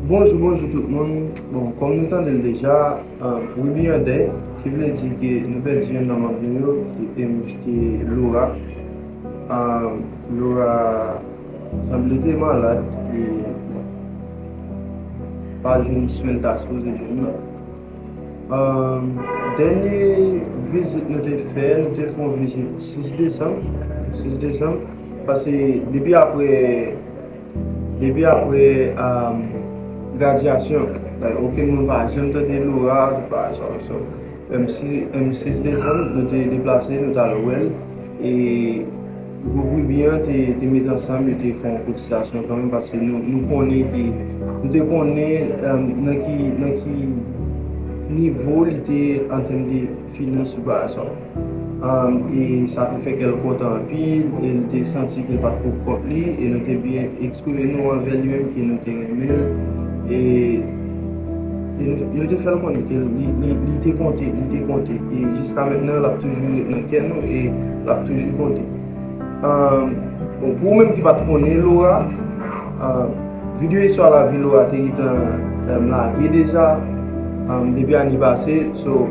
Bonjou bonjou tout moun bon kòm nou tandel deja we be yon dèy ki vle di ke nou pèdi yonn nan manb nou yo em ki te Laura Laura sanble te malad e bon pa jwenn swenl ta sipoze jwenn nan dènye vizit nou te fè nou te fon vizit 6 desanm 6 desanm pase depi aprè Depi apre gradyasyon, like okenn moun pa janm tande Laura nou pa sa ou sa ou. M 6 desanm nou te deplase nou t al wè l e gwoup Wiby an te met ansanm yo te fè yon kotisasyon kanmenm paske nou konnen ke nou te konnen nan ki nivo li te antèm de finans sou plas la e sa te fè kè l kontan anpil e l te santi ke l pa t pou kont li e nou te byen eksprime nou anvè li menm ke nou te renmen l e nou te fè l konnen ke li te konte e jiska mentnan l ap toujou ret nan kè nou e l ap toujou konte. Bon pou ou menm ki pat konnen Laura, video istwa lavi Laura te gentan lage deja depi ane pase so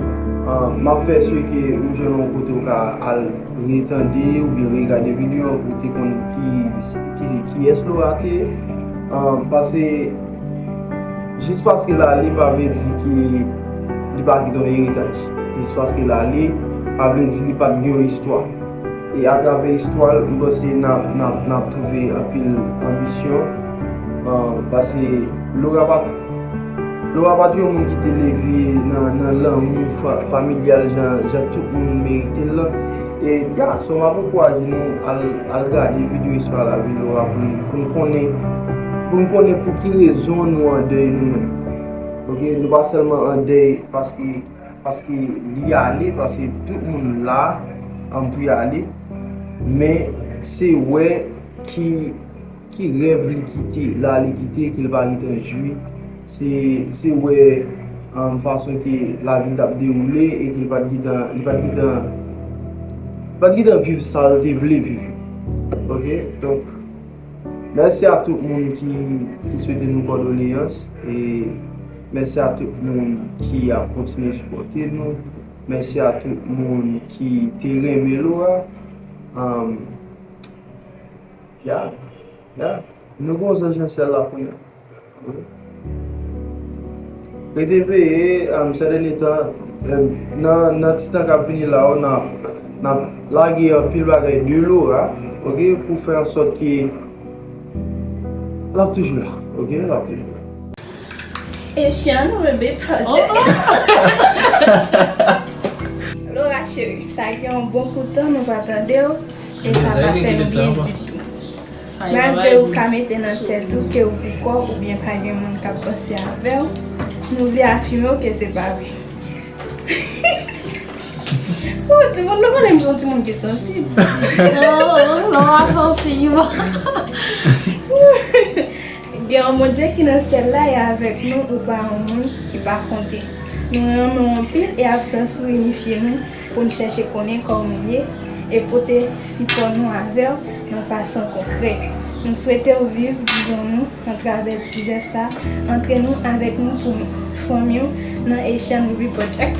map fè si ke ou jwenn yon kote ou ka al retande oubyen regade video an pou ou te konn kiyès Laura te ye pase jis paske l ale pa vle di ke li pa kite yon eritaj jis paske l ale pa vle di li pat gen yon istwa. E atravè istwa l, m panse n ap, n ap, n ap twouve anpil anbisyon. Pase Lora pa, Lora pa t yon moun ki te leve nan, nan lanmou familyal jan, jan tout moun merite l lan. E gason, m ap ankouraje nou al, al gade videyo Istwa lavi Lora pou nou, pou nou konnen, pou nou konnen pou ki rezon nou an dèy nou menm. Ok, nou pa sèlman an dèy paske. Paske li ale paske tout moun la an pou yale men se wè ki ki rèv li kite la li kite ke l pa gentan jwi se se wè an fason ke lavi l t ap dewoule e ke l pa t gentan li pa t gentan li pa t gentan viv sa l te vle viv ok donk Mèsi a tout moun ki swete nou kòdoleyans e mèsi a tout moun ki ap kontinye sipòte nou, mèsi a tout moun ki te renmen lo a um yeah yeah nou gen yon zanj nan syèl la kounya. Rete veye, sè dènye tan, nan ti tan k ap vini la yo, n ap lage anpil bagay de lora, ok, pou fè an sòt ke l ap toujou la, ok, l ap toujou la. Echann Rebe Project. Lora cheri, sa gen yon bon kout tan nou pa tande w, e sa pa fè m byen ditou. Malgre ou ka mete nan tèt ou ke ou poukò oubyen pa gen moun k ap panse avè w, nou vle afime w ke se pa vre. Ohh timoun nou konnen m son timoun ki sansib. Ohh lè w ap sansib. Gen yon Bondye ki nan syèl la e avèk nou ou pa yon moun ki pa konte. Nou renmen w anpil e absans ou inifye nou. pou n chèche konnen kò w ye e pote sipò nou avè w nan fason konkrè. Nou swete w viv dizon nou atravè ti jès sa a, antre nou avèk nou pou n fòmi w nan Haitian Movie Project.